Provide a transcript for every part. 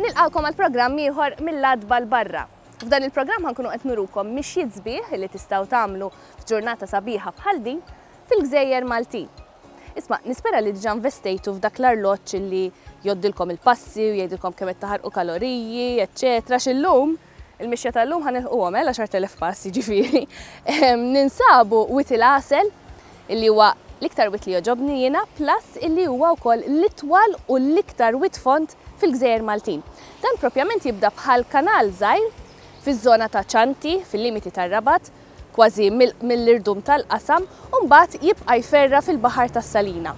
Nilqawkom għal programm ieħor mill-adba l-barra. F'dan il-programm ħankunu qed nurukom mixjiet sbieħ li tistgħu tagħmlu f'ġurnata sabiħa bħal din fil-gżejjer Maltin. Isma', nispera li diġà investejtu f'dak l-arloġġ li jgħoddilkom il-passi u jgħidilkom kemm qed taħarqu kaloriji, eċċetera għax illum, il-mixja tal-lum ħa nilħquhom, eh, l-għaxart elef pass, jiġifieri. Ninsabu wied il-għasel, illi huwa l-iktar wied li jogħġobni jiena, plus illi huwa wkoll l-itwal u l-iktar wied fond fil-gżejjer Maltin. Dan proprjament jibda bħal kanal żgħir fiż-żona ta' Cianti, fil-limiti tar-Rabat, kważi mill-irdum tal-qasam u mbagħad jibqa' jferra' fil-baħar tas-Salina.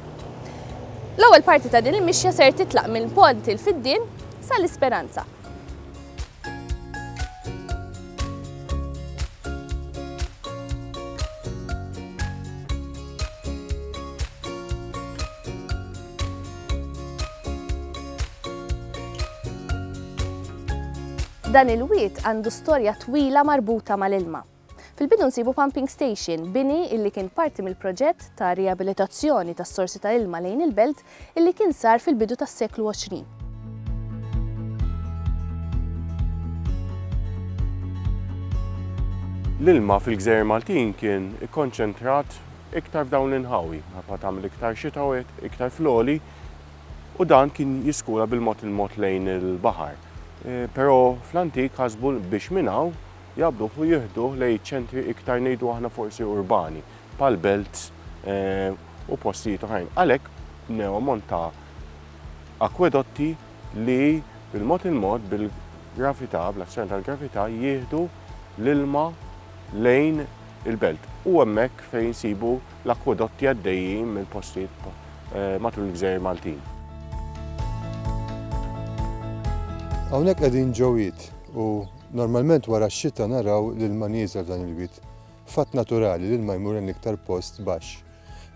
L-ewwel parti ta' din il-mixja ser titlaq minn Pont il-Fiddien sa l-Isperanza. Dan il-wied għandu storja twila marbuta mal-ilma. Fil-bidu nsibu pumping station, bini illi kien parti mill-proġett ta' riabilitazzjoni tas-sorsi ta' ilma lejn il-belt illi kien sar fil-bidu tas-seklu 20. L-ilma fil-gżejjer Maltin kien ikkonċentrat iktar f'dawn l-inħawi, minħabba tagħmel iktar xita u hekk, iktar fl-għoli, u dan kien jiskura bil-mod il-mod lejn il-baħar. Però fl-antik ħasbu biex minn hawn jaqbduh u jieħduh lejn iċ-ċentri iktar ngħidu aħna forsi urbani, bħal belts u postijiet oħrajn. Għalhekk bnew ammont ta' akwedotti li bil-mod il-mod bil-gravità, bl-azzjoni tal-gravità jieħdu l-ilma lejn il-belt u hemmhekk fejn insibu l-akkwedotti għaddejjin minn postijiet matul il-gżejjer Maltin. Hawnhekk qegħdin ġo wied u normalment wara x-xita naraw l-ilma nieżel f'dan il-wied. Fatt naturali, l-ilma jmur lejn l-iktar post baxx.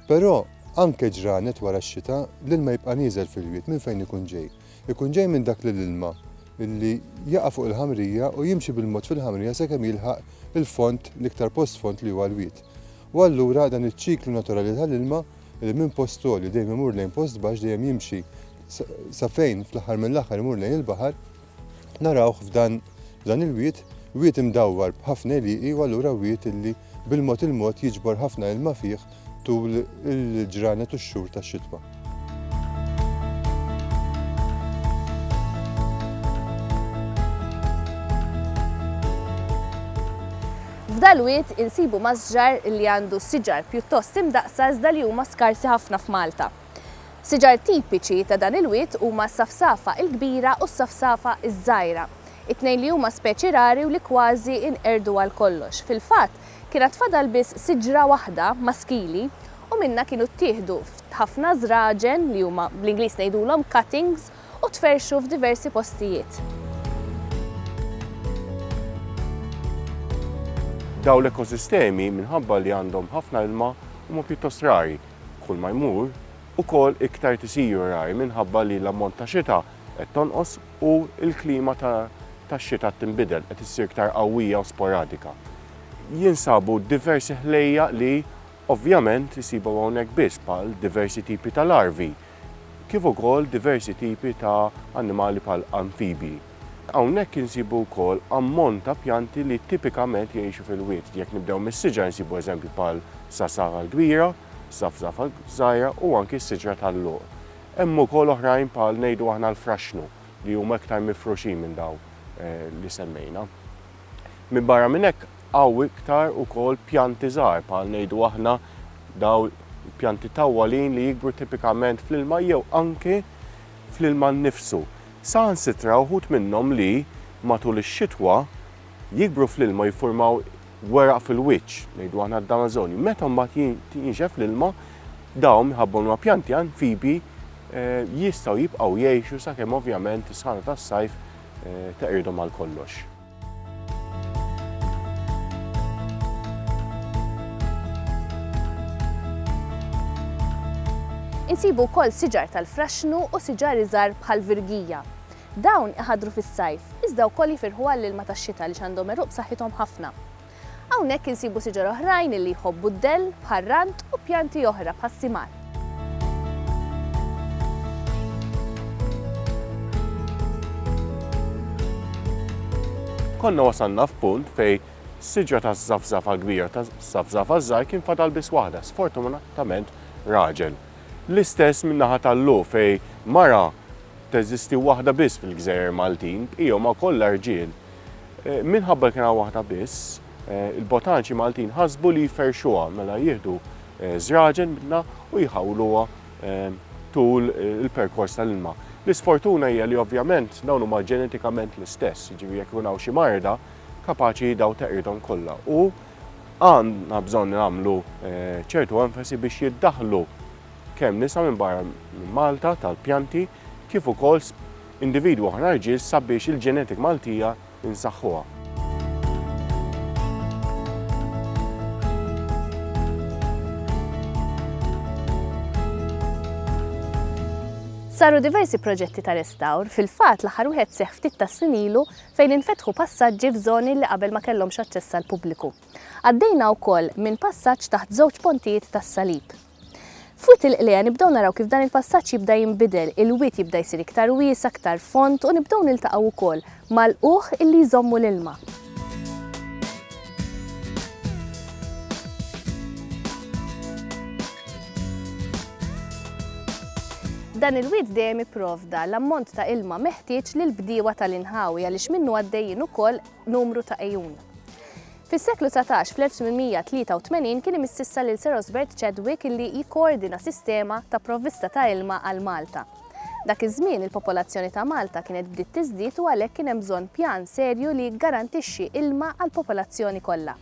Però anke ġranet wara x-xita, l-ilma jibqa' nieżel fil-wied minn fejn ikun ġej. Ikun ġej minn dak li l-ilma, li jaqa' fuq il-ħamrija u jimxi bil-mod fil-ħamrija sakemm jilħaq il-fond, l-iktar post fond li huwa l-wied. U allura dan iċ-ċiklu naturali tal-ilma, li minn post għoli dejjem imur lejn post baxx, dejjem jimxi sa fejn fl-aħħar mill-aħħar imur lejn il-baħar, narawh f'dan f'dan il-wied, wied imdawwar b'ħafna għelieqi u allura wied li bil-mod il-mod jiġbor ħafna ilma fih tul il-ġranet u x-xhur tax-xitwa. F'dal-wied insibu masġar li għandu siġar pjuttost imdaqqsa iżda li huma skarsi ħafna f'Malta. Siġar tipiċi ta' dan il-wied huma s-safsafa l-kbira u s-safsafa ż-żgħira, it-tnejn li huma speċi rari u li kważi nqerdu għal kollox. Fil-fatt, Kien għad fadal biss siġra waħda maskili u minnha kienu ttieħdu ħafna żraġen li huma bl-Ingliż ngħidulhom cuttings u tferrxu f'diversi postijiet. Dawn l-ekosistemi minħabba li għandhom ħafna ilma huma pjuttost rari. Kull ma jmur, ukoll iktar tisiru rari minħabba li l-ammont ta' xita qed tonqos. u l-klima tax-xita tinbidel, qed issir iktar qawwija u sporadika. Jinsabu diversi ħlejjaq li ovvjament isibhom hawnhekk biss bħal diversi tipi ta' larvi kif ukoll diversi tipi ta' annimali bħal anfibji. Hawnhekk insibu wkoll ammont ta' pjanti li tipikament jgħixu fil-wied. Jekk nibdew mis-siġar insibu eżempji bħal sasaħa l-kbira, safsafa l-żgħira u anki s-siġra tal-luq. Hemm ukoll oħrajn bħal ngħidu aħna l-fraxxnu li huma iktar mifruxin minn dawn li semmejna. Minbarra minn hekk hawn iktar ukoll pjanti żgħar bħal ngħidu aħna dawn il-pjanti tawwalin li jikbru tipikament fl-ilma jew anki fl-ilma nnifsu. Saħansitra uħud minnhom li matul ix-xitwa jikbru fl-ilma u jiffurmaw weraq fil-wiċċ, ngħidu aħna d-damażonju. Meta mbagħad jinxef l-ilma, dawn minħabba huma pjanti anfibi jistgħu jibqgħu jgħixu sakemm ovvjament is-sħana tas-sajf teqridhom għal kollox. Insibu wkoll siġar tal-fraxxnu u siġar iżgħar bħall-virgija. Dawn iħaddru fis-sajf, iżda wkoll jifirħu għall-ilma tax-xita għaliex għandhom għeruq b'saħħithom ħafna. Hawnhekk insibu siġar oħrajn li jħobbu d-dell, bħar-rand u pjanti oħra bħas-simar. Konna wasalna f'punt fejn siġra taż-żafżafa kbira u taż-żafżafa żgħir kien fadal biss waħda, sfortunatament raġel. L-istess min-naħa tal-Lu fejn mara Teżisti waħda biss fil-gżejjer Maltin, bqija huma kollha rġiel. Minħabba li kien hawn waħda biss, il-botaniċi Maltin ħasbu li jferrxuha, mela jieħdu żraġen minnha u jħawluha tul il-perkors tal-ilma. L-isfortuna hija li ovvjament dawn huma ġenetikament l-istess, jiġifieri jekk ikun hawn xi marda, kapaċi dawn teqridhom kollha. U għandna bżonn nagħmlu ċertu enfasi biex jiddaħħlu. kemm nisa minn barra minn Malta tal-pjanti kif ukoll individwi oħra rġiel sabiex il-genetic Maltija insaħħuha. Saru diversi proġetti ta' restawr, fil-fatt l-aħħar wieħed seħħ ftit tas-snin ilu fejn infetħu passaġġi f'żoni li qabel ma kellhomx aċċess għall-pubbliku. Għaddejna wkoll minn passaġġ taħt żewġ pontijiet tas-Salib. F'Wied il-Qliegħa nibdew naraw kif dan il-passaġġ jibda jinbidel, il-wied jibda jsir iktar wiesa', iktar fond u nibdew niltaqgħu wkoll mal-qugħ illi jżommu l-ilma. Dan il-wied dejjem ipprovda l-ammont ta' ilma meħtieġ lill-bdiewa tal-inħawi għaliex minnu għaddejjin ukoll numru ta' għejun. Fis-seklu 19, fl-1883 kien imississa lil Sir Osbert Chadwick illi jikkoordina sistema ta' provvista ta' ilma għal Malta. Dak iż-żmien il-popolazzjoni ta' Malta kienet bdiet tiżdied u għalhekk kien hemm bżonn pjan serju li jiggarantixxi ilma għall-popolazzjoni kollha.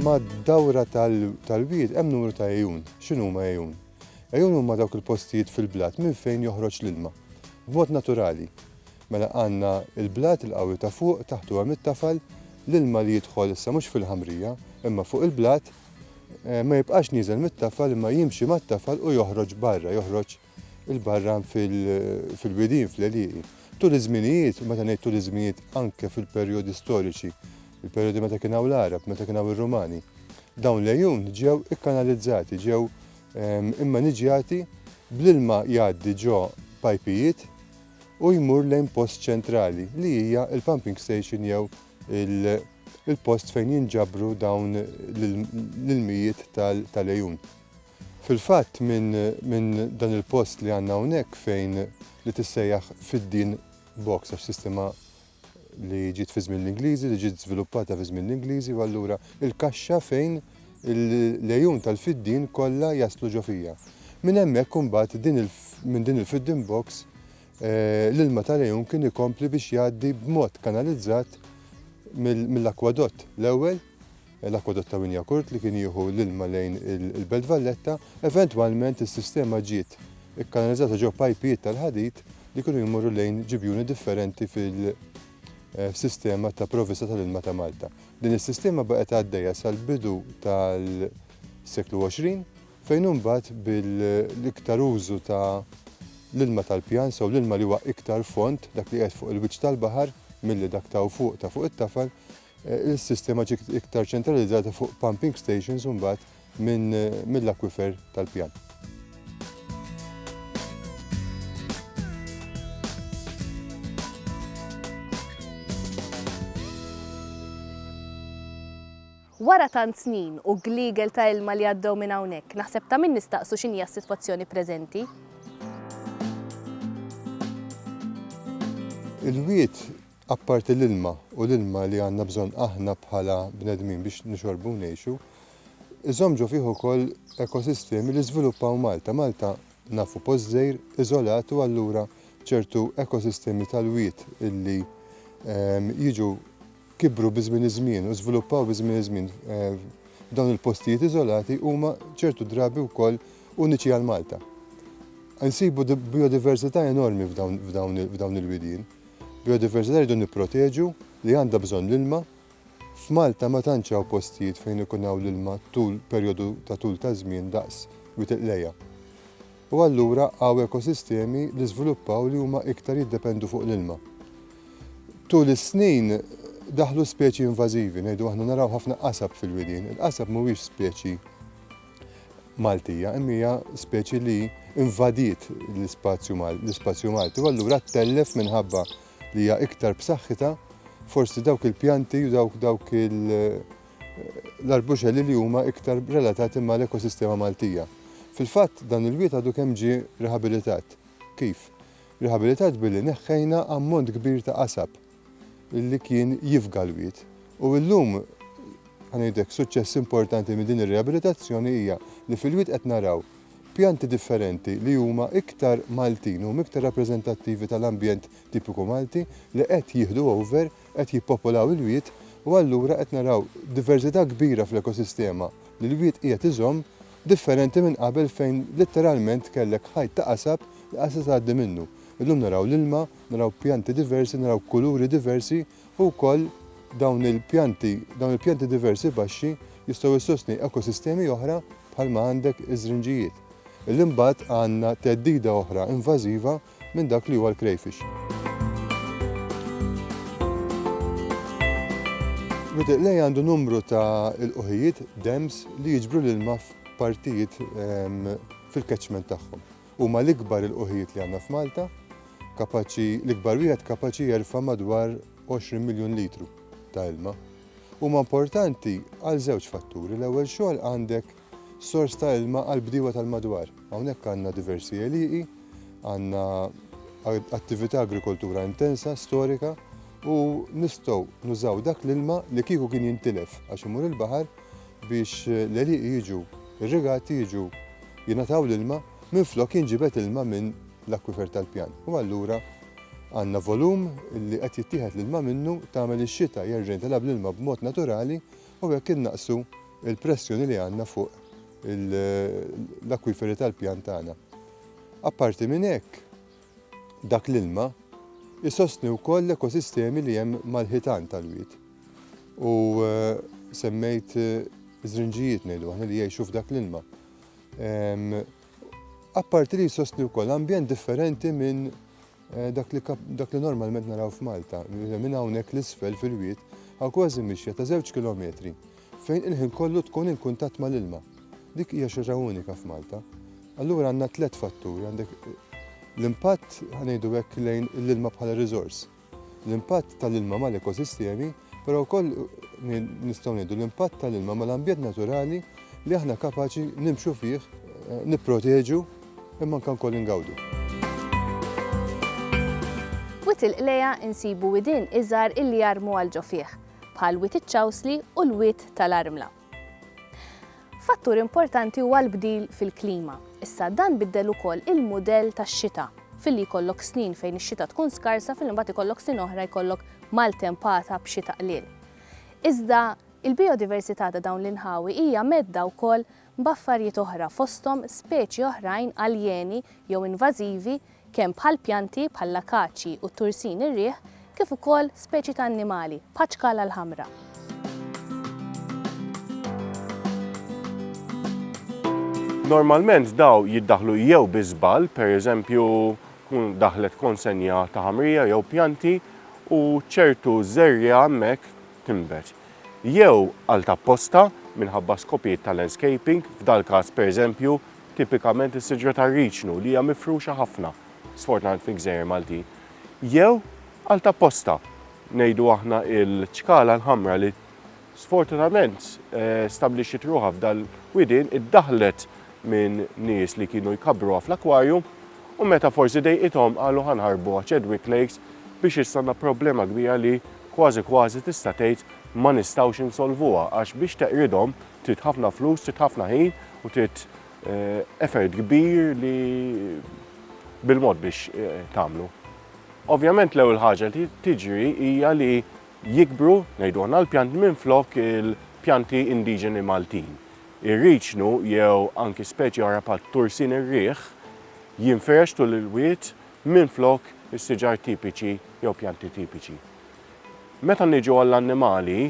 Mad-dawra tal-wied hemm numru ta' għejun. X'inhuma għejun? Għejun huma dawk il-postijiet fil-blat minn fejn joħroġ l-ilma. B'mod naturali. Mela għandna l-blat, il-qawwi ta' fuq, taħtu hemm it-tafal, l-ilma li jidħol issa mhux fil-ħamrija, imma fuq il-blat, ma jibqax nieżel mit-tafal imma jimxi mat-tafal u joħroġ barra, joħroġ 'il barra fil-widien, fl-għelieqi. Tul iż-żminijiet, u meta ngħid tul iż-żminijiet anke fil-perjodi storiċi, Il-perjodi meta kien hawn l-Għarab, meta kien hawn ir-Rumani. Dawn l-għejun ġew ikkanalizzati, ġew ehm, immaniġjati bl-ilma jgħaddi ġo pajpijiet u jmur lejn post ċentrali li hija il-pumping station jew il-post fejn jinġabru dawn l-ilmijiet tal-għejun. Fil-fatt minn dan il-post li għandna hawnhekk fejn li tissejjaħ fid-din box għax sistema li ġiet fi żmien l-Ingliżi, li ġiet żviluppata fi żmien l-Ingliżi u allura il-kaxxa fejn l-għejun tal-fiddien kollha jaslu ġo fija. Minn hemmhekk imbagħad minn din il-fiddin box eh, l-ilma tal-għejun kien ikompli biex jgħaddi b'mod kanalizzat mill-akwadott l-ewwel l-akwadott ta' Wynyacourt li kien jieħu l-ilma lejn il-Belt Valletta. Eventwalment is-sistema ġiet ikkanalizzata ġo pajpijiet tal-ħadid li kienu jmorru lejn ġibjuni differenti fil-sistema ta' provvista tal-ilma ta' Malta. Din is-sistema baqgħet għaddejja sal-bidu tal-seklu 20 fejn imbagħad bil-iktar użu ta' l-ilma tal-pjan, sew l-ilma li huwa iktar fond, dak li qiegħed fuq il-wiċċ tal-baħar milli dak ta' fuq ta' fuq it-tafal, Is-sistema ġiet iktar ċentralizzata fuq pumping stations u mbagħad mill-akwifer tal-pjan. Wara tant snin u gliegel ta' ilma li għaddew minn hawnhekk, naħseb ta' min nistaqsu x'inhija s-sitwazzjoni preżenti. Il-wied Apparti l-ilma u l-ilma li għandna bżonn aħna bħala bnedmin biex nixorbu u ngħixu, iżomm ġo fih ukoll ekosistemi li żviluppaw Malta. Malta nafu post żgħir, iżolat u allura ċertu ekosistemi tal-wied illi jiġu kibru bi żmien iż-żmien u żviluppaw bi żmien iż-żmien f'dawn il-postijiet iżolati huma ċertu drabi wkoll uniċi għal Malta. Insibu bijodiversità enormi f'dawn il-widien. Biodiversità rridu nipproteġu li għandha bżonn l-ilma. F'Malta ma tantx hawn postijiet fejn ikun hawn l-ilma tul perjodu ta' tul ta' żmien daqs Wied il-Qlejgħa. U allura hawn ekosistemi li żviluppaw li huma iktar jiddependu fuq l-ilma. Tul is-snin daħlu speċi invażivi, ngħidu aħna naraw ħafna qasab fil-widien. Il-qasab mhuwiex speċi Maltija, imma hija speċi li invadiet l-ispazju l-ispazju Malti u allura ttellef minħabba li hija iktar b'saħħitha forsi dawk il-pjanti u dawk dawk l-arbuxelli li huma iktar relatati mal-ekosistema Maltija. Fil-fatt dan il-wied għadu kemm ġie rihabilitat. Kif? Rihabilitat billi neħħejna ammont kbir ta' qasab. li kien jifga l-wied. U llum, ħa ngħidlek, suċċess importanti minn din ir-riabilitazzjoni hija li fil-wied qed naraw pjanti differenti li huma iktar Maltin, huma iktar rappreżentattivi tal-ambjent tipiku Malti li qed jieħdu over, qed jippopolaw il-wied u allura qed naraw diverżità kbira fl-ekosistema li l-wied qiegħed iżomm differenti minn qabel fejn litteralment kellek ħajt ta' qasab li qatt se tgħaddi minnu. Illum naraw l-ilma, Naraw pjanti diversi, naraw kuluri diversi u wkoll dawn il-pjanti, dawn il-pjanti diversi baxxi jistgħu jsostni ekosistemi oħra bħalma għandek iż-żrinġijiet. Illi mbagħad għandna theddida oħra invażiva minn dak li huwa l-crayfish. Rutiq lej għandu numru ta' il-qoħijiet, dems, li jiġbru l-ilma f'partijiet ehm, fil-catchment tagħhom. Huma l-ikbar ilqugħijiet li għandna f'Malta, kapaċi, l-ikbar wieħed kapaċi jerfa' madwar 20 miljun litru ta' ilma. Huma importanti għal żewġ fatturi, l-ewwel xogħol għandek sors ta' ilma għall-bdiewa tal-madwar. Hawnhekk għandna diversi għelieqi, għandna attività agrikoltura intensa, storika, u nistgħu nużaw dak l-ilma li kieku kien jintilef għax imur il-baħar, biex l-għelieqi jiġu irrigati jiġu jingħataw l-ilma minflok jinġibed ilma minn l-akwifer tal-pjan. U allura għandna volum li qed jittieħed l-ilma minnu tagħmel ix-xita jerġa' jintilgħab bl-ilma b'mod naturali u hekk innaqsu l-pressjoni li għandna fuq l-akwiferi tal-pjan tagħna. Apparti minn hekk, dak l-ilma jsostni wkoll l-ekosistemi li hemm mal-ħitan tal-wied. U semmejt żrinġijiet ngħidu aħna li jgħixu f'dak l-ilma. Apparti li jsostni wkoll ambjent differenti minn Eh, dak li normalment naraw f'Malta, minn hawnhekk l-isfel fil-wiet, għaw kważi mixja ta' żewġ kilometri fejn il-ħin kollu tkun in kuntatt mal-ilma. Dik hija xi ħaġa unika f'Malta. Allura għandna tliet fatturi, għandek l-impatt ngħidu hekk lejn l-ilma bħala riżors, l-impatt tal-ilma mal-ekosistemi, però wkoll nistgħu ngħidu l-impatt tal-ilma mal-ambjent naturali li aħna kapaċi nimxu fih, eh, nipproteġu imma nkan koll ingawdu. Wit il-qleja insibu widin iżar illi jarmu għal ġofieħ. bħal Wied iċ-Ċawsli u l-Wied tal-Armla. Fattur importanti huwa l-bdil fil-klima. Issa dan biddel ukoll il-mudell tax-xita filli jkollok snin fejn ix-xita tkun skarsa fil imbagħad ikollok snin oħra jkollok maltempata b'xita qliel. Iżda il-biodiversità ta' dawn l-inħawi hija medda wkoll b'affarijiet oħra fosthom speċi oħrajn aljeni jew invażivi kemm bħal pjanti bħall-akaċji u t-tursin ir-riħ kif ukoll speċi ta' annimali bħaċ-ċkala l-ħamra. Normalment daw jiddaħlu jew bi żball, pereżempju daħlet konsenja ta' ħamrija jew pjanti u ċertu żerja hemmhekk tinbet. Jew għal tapposta minħabba skopijiet ta' landscaping, f'dal-każ pereżempju tipikament is-siġra tar-riċnu li hija mifruxa ħafna, sfortunatament fil-gżejjer Maltin, jew għal ta' posta, ngħidu aħna il-ċkala l-ħamra li sfortunatament stabblixxiet ruħha f'dal-widien iddaħħlet minn nies li kienu jkabbruha fl-akwarjum u meta forsi dejqithom qalu ħa nħarbuha Chadwick Lakes biex issa għandna problema kbira li kważi kważi tista' tgħid ma nistgħux insolvuha għax biex teqridhom Trid ħafna flus, trid ħafna ħin u trid effort kbir li bil-mod biex tagħmlu. Ovvjament l-ewwel ħaġa li tiġri hija li jikbru, ngħidu aħna l-pjanti minn flok il-pjanti indiġeni Maltin. Ir-riċnu jew anki speċi oħra bħal tursin ir-riħ jinfirex tul il-wied minn flok is-siġar tipiċi jew pjanti tipiċi. Meta niġu għall-annimali,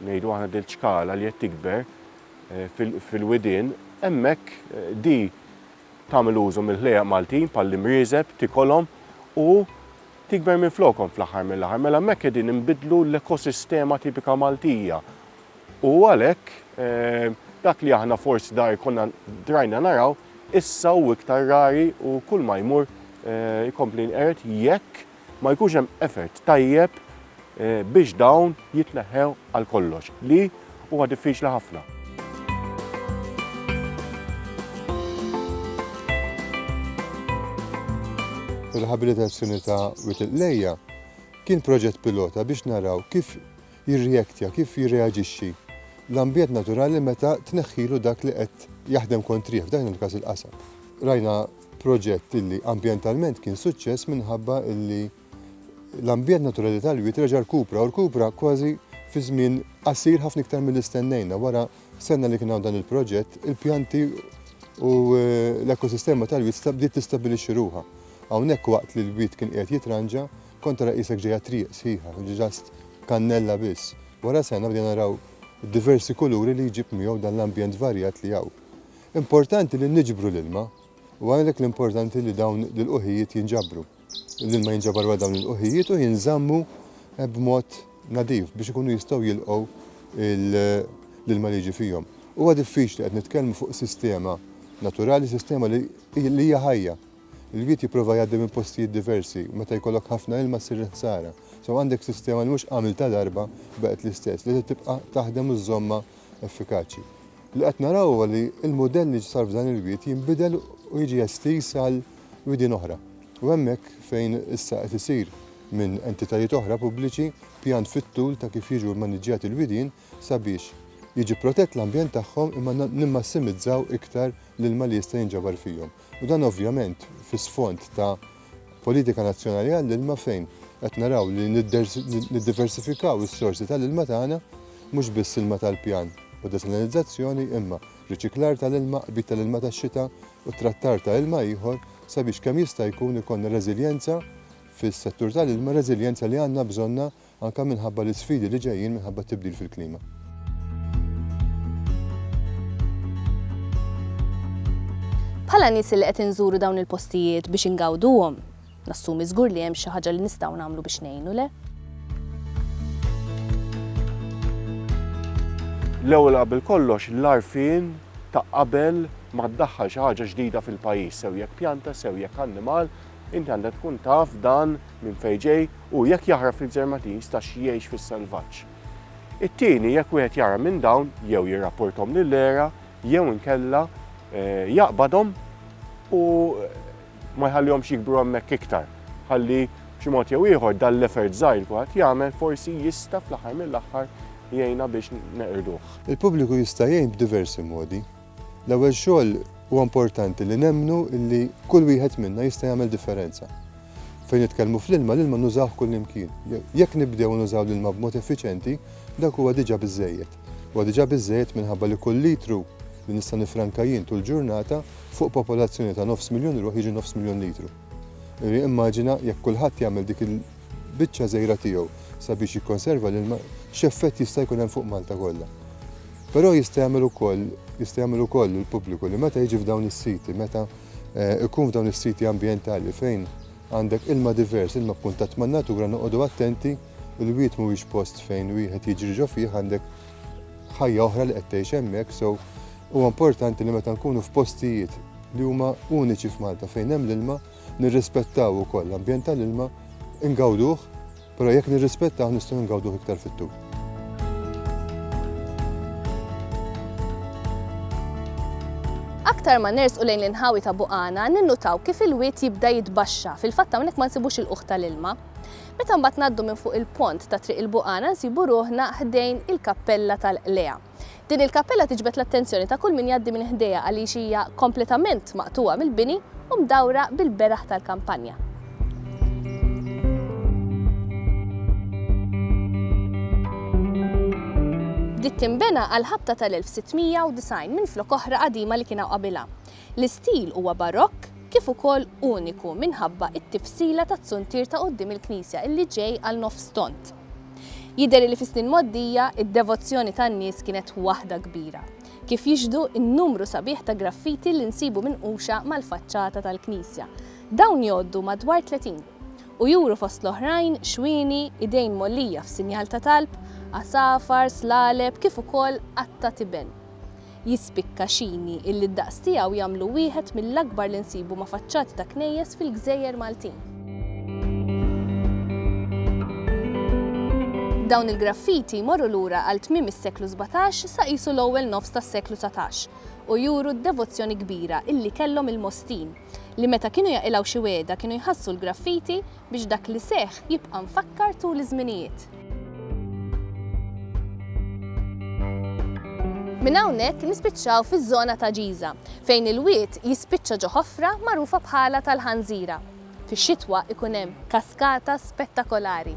ngħidu aħna dil ċkala li qed tikber fil-widien, hemmhekk di tagħmel użu mill-ħlejjaq Maltin bħall-imrieżeb, tikolhom u tikber minflokhom fl-aħħar mill-aħħar. Mela hemmhekk qegħdin inbiddlu l-ekosistema tipika Maltija. U għalhekk dak li aħna forsi dar konna drajna naraw, issa hu iktar rari u kull ma jmur jkompli jinqered jekk ma jkunx hemm effort tajjeb biex dawn jitneħħew għal kollox, li huwa diffiċli ħafna. Ir-riħabilitazzjoni ta' Wied il-Qlejja kien proġett pilota biex naraw kif jirreaktja, kif jirreaġixxi l-ambjent naturali meta tneħħilu dak li qed jaħdem kontrih, f'dan il-każ il-qasab. Rajna proġett illi ambjentalment kien suċċess minħabba illi l-ambjent naturali tal-wied reġa' rkupra u rkupra kważi fi żmien qasir ħafna iktar milli stennejna. Wara sena li kien hawn dan il-proġett, il-pjanti u eh, l-ekosistema tal-wied bdiet tistabbilixxi ruha. Hawnhekk waqt li l-wied kien qiegħed jitranġa, kont tara qisek ġejja triq sħiħa, ġast kannella biss. Wara sena bdejna naraw diversi kuluri li jġib miegħu dan l-ambjent varjat li hawn. Importanti li niġbru l-ilma u għalhekk l-importanti li dawn l-ilquħijiet jinġabru. L-ilma jinġabar wara dawn l-ilquħijiet u jinżammu eh, b'mod nadif biex ikunu jistgħu jilqgħu l-ilma li jiġi fihom. Huwa diffiċli qed nitkellmu fuq sistema naturali, sistema li hija ħajja. Il-wiet jipprova jgħaddi minn postijiet diversi, meta jkollok ħafna ilma ssir ħsara. So għandek sistema li mhux għamil ta' darba baqgħet l-istess, li tibqa' taħdem u żomma effikaċi. Li qed naraw huwa li l-mudell li sar f'dan il-wied jinbidel u jiġi estiż għal widien oħra. U hemmhekk fejn issa qed isir minn entitajiet oħra pubbliċi pjan fit-tul ta' kif jiġu mmaniġġjati l-widien sabiex jiġi protett l-ambjent tagħhom imma nimmassimizzaw iktar l-ilma li jista' jinġabar fihom. u dan ovvjament fi sfond ta' politika nazzjonali għall-ilma fejn qed naraw li niddiversifikaw is-sorsi tal-ilma tagħna mhux biss ilma tal-pjan u desalinizzazzjoni imma riċiklar tal-ilma, qbid tal-ilma tax-xita u trattar ta' ilma ieħor sabiex kemm jista' jkun ikollna reżiljenza fis-settur tal-ilma, reżiljenza li għandna bżonna anke minħabba l-isfidi li ġejjin minħabba t-tibdil fil-klima. Bħala nies li qed inżuru dawn il-postijiet biex ingawduhom, nassumi żgur li hemm xi ħaġa li nistgħu nagħmlu biex ngħinu, le? L-ewwel qabel kollox l-għarfien ta' qabel ma ddaħħal xi ħaġa ġdida fil-pajjiż, sew jekk pjanta, sew jekk annimal, Inti għandek tkun taf dan minn fejn ġej u jekk jaħrab fil-Gżermatiż ta' xi jgħix fis-selvaġġ. It-tieni jekk wieħed jara minn dawn jew jirrapporthom lill-ERA jew inkella jaqbadhom u ma jħallihomx jikbru hemmhekk iktar ħalli b'xi mod jew ieħor dan l-effort żgħir li kulħadd jagħmel forsi jista' fl-aħħar mill-aħħar jgħinna biex neqirduh. Il-pubbliku jista' jgħin b'diversi modi. L-ewwel xogħol huwa importanti li nemmnu li kull wieħed minna jista' jagħmel differenza. Fejn nitkellmu fl-ilma, l-ilma nużawh kullimkien. Jekk nibdew nużaw l-ilma b'mod effiċjenti, dak huwa diġà biżżejjed. Huwa diġà biżżejjed minħabba li kull litru li nista' nifranka jien tul ġurnata fuq popolazzjoni ta' nofs miljun ruħ jiġi nofs miljun litru. Immaġina jekk kulħadd jagħmel dik il-biċċa żgħira tiegħu sabiex jikkonserva l-ilma, x'effett jista' jkun hemm fuq Malta kollha. Però jista' jagħmel ukoll, jista' jagħmel ukoll il-pubbliku li meta jiġi f'dawn is-siti, meta eh, ikun f'dawn is-siti ambjentali fejn għandek ilma divers, ilma kkuntatt man-natura noqogħdu attenti il-wied mhuwiex post fejn wieħed jiġri ġo fih għandek ħajja oħra li qed tgħix hemmhekk, so huwa importanti li meta nkunu f'postijiet li huma uniċi f'Malta fejn hemm l-ilma, nirrispettaw ukoll l-ambjent tal-ilma, ingawduh, però jekk nirrispettaw nistgħu ngawduh iktar fit-tul. Aktar ma nersqu lejn l-inħawi ta' Buqana, ninnutaw kif il-wied jibda jitbaxxa, fil-fatt hawnhekk ma nsibux il-qoħ tal-ilma. Meta mbagħad ngħaddu minn fuq il-pont ta' Triq il-Buqana nsibu ruħna ħdejn il-Kappella tal-Qlejgħa. Din il-kappella tiġbed l-attenzjoni ta' kull min jgħaddi minn ħdejha għaliex hija kompletament maqtugħa mill-bini u mdawra bil-beraħ tal-kampanja. Bdiet tinbena għall-ħabta tal-1690 minflok oħra qadima li kien hawn qabilha. L-istil huwa Barokk kif ukoll uniku minħabba t-tifsila tat-zuntier ta' quddiem il-knisja illi ġej għal nofs tond. Jidher illi fis-snin mgħoddija id-devozzjoni tan-nies kienet waħda kbira, kif jixhdu n-numru sabiħ ta' graffiti li nsibu minquxa mal-faċċata tal-knisja. Dawn jgħoddu madwar tletin u juru fost l-oħrajn xwieni, idejn mgħollija f'sinjal ta' talb, għasafar, slaleb kif ukoll qatta' tiben. jispikka xini illi d-daqs tiegħu jagħmlu wieħed mill-akbar li nsibu ma' faċċati ta' knejjes fil-gżejjer Maltin. Dawn il-graffiti jmorru lura għal tmiem is-seklu sbatax sa qisu l-ewwel nofs tas-seklu satax u juru d-devozzjoni kbira illi kellhom il-Mostin, li meta kienu jaqilgħu xi wegħda kienu jħassu l-graffiti biex dak li seħħ jibqa' mfakkar tul iż-żminijiet. Minn hawnhekk nispiċċaw fiż-żona ta' Ġiża, fejn il-wied jispiċċa ġo ħofra magħrufa bħalha tal-Ħanżira. Fix-xitwa ikun hemm kaskata spettakolari.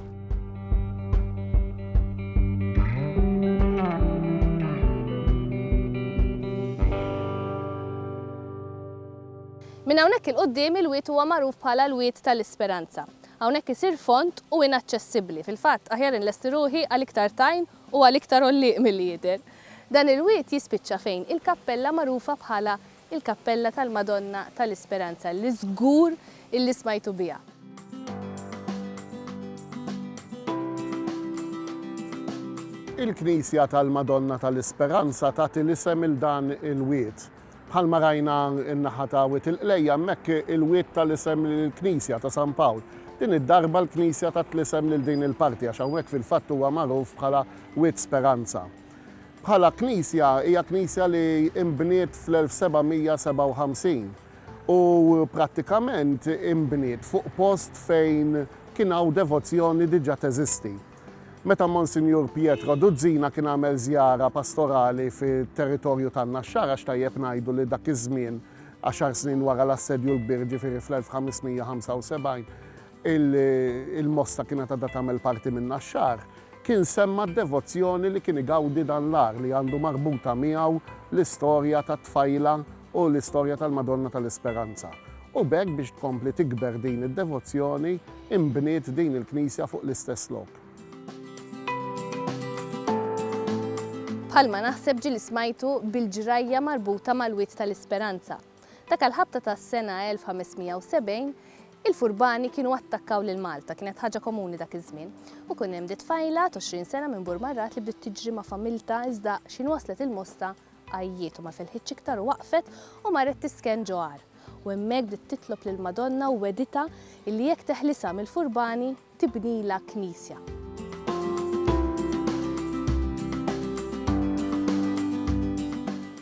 Minn hawnhekk 'il quddiem il-Wied huwa magħruf bħala l-Wied ta' l-Isperanza. Hawnhekk isir fond u inaċċessibbli. Fil-fatt, aħjar inlesti ruħi għal iktar tajn u għal iktar għollieq milli jidher. Dan il-Wied jispiċċa fejn il-kappella magħrufa bħala l-Kappella tal-Madonna ta' l-Isperanza li żgur illi smajtu biha. Il-Knisja tal-Madonna ta' l-Isperanza tagħti l-isem 'il dan il-Wied. Bħalma rajna n-naħa ta' Wied il-Qlejja hemmhekk il-Wied ta l-isem lill-Knisja ta' San Pawl. Din id-darba l-Knisja tat l-isem lil din il-parti għax hawnhekk fil-fatt huwa magħruf bħala Wied Speranza. Bħala knisja hija knisja li inbniet fl-1757 u prattikament inbniet fuq post fejn kien hawn devozzjoni diġa teżisti. Meta Monsinjur Pietro Duzzina kien għamel żjara pastorali fit-territorju tan-Naxxara x'tajjeb ngħidu li dak iż-żmien, għaxar snin wara l-Assedju l-Kbir ġifieri fl-1575, il-Mosta kienet għadha tagħmel parti min-Naxxar, kien semma d-devozzjoni li kien igawdi dan l-għar li għandu marbuta miegħu l-istorja tat-tfajla u l-istorja tal-Madonna tal-Isperanza, u b'hekk biex tkompli tikber din id-devozzjoni, inbniet din il-knisja fuq l-istess lok. Bħalma naħseb ġieli smajtu bil-ġrajja marbuta mal-Wied tal-Isperanza. Dak l-Ħabta tas-sena 1570, il-furbani kienu attakkaw lil Malta, kienet ħaġa komuni dak iż-żmien, u kien hemm di tfajla t'għoxrin sena minn Burmarrat li bdiet tiġri ma' familtha iżda x'ħin waslet il-Mosta Għajjiet u ma felħitx iktar u waqfet u marret tisken ġo għar. U hemmhekk bdiet titlob lill-Madonna u wegħditha illi jekk teħlisha mill-furbani tibnilha knisja.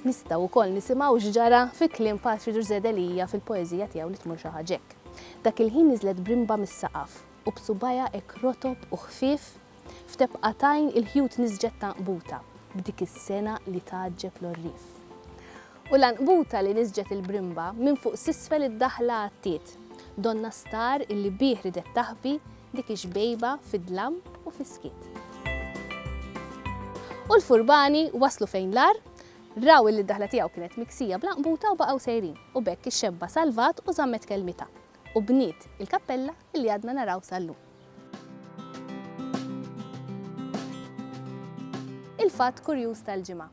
Nistgħu wkoll nisimgħu x'ġara fi kliem Patri Ġużè Delia fil-poeżija tiegħu Li tmur xi ħaġa hekk. Dak il-ħin niżlet brimba mis-saqaf. u b'subgħajha hekk rotob u ħfief, f'tebqa t'għajn il-ħjut niżġet t'għanqbuta b'dik is-sengħa li tgħaġġeb l-għorrief. U l-għanqbuta li niżġet il-brimba minn fuq s'isfel id-daħla għattiet donnha star illi bih ridet taħbi dik ix-xbejba fid-dlam u fis-skiet. U l-furbani waslu fejn l-għar, raw illi d-daħla tiegħu kienet miksija bl-għanqbuta u baqgħu sejrin u b'hekk ix-xebba salvat u żammet kelmitha. u bniet il-kappella li għadna naraw sal-lum. Il-fatt kurjuż tal-ġimgħa,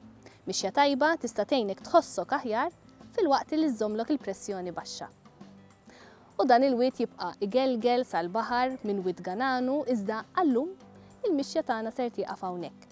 mixja tajba tista' tgħinek tħossok aħjar filwaqt li żżommlok il-pressjoni baxxa. U dan il-wied jibqa' igelgel sal-baħar minn Wied Gananu iżda għal-lum il-mixja tagħna ser tieqaf hawnhekk.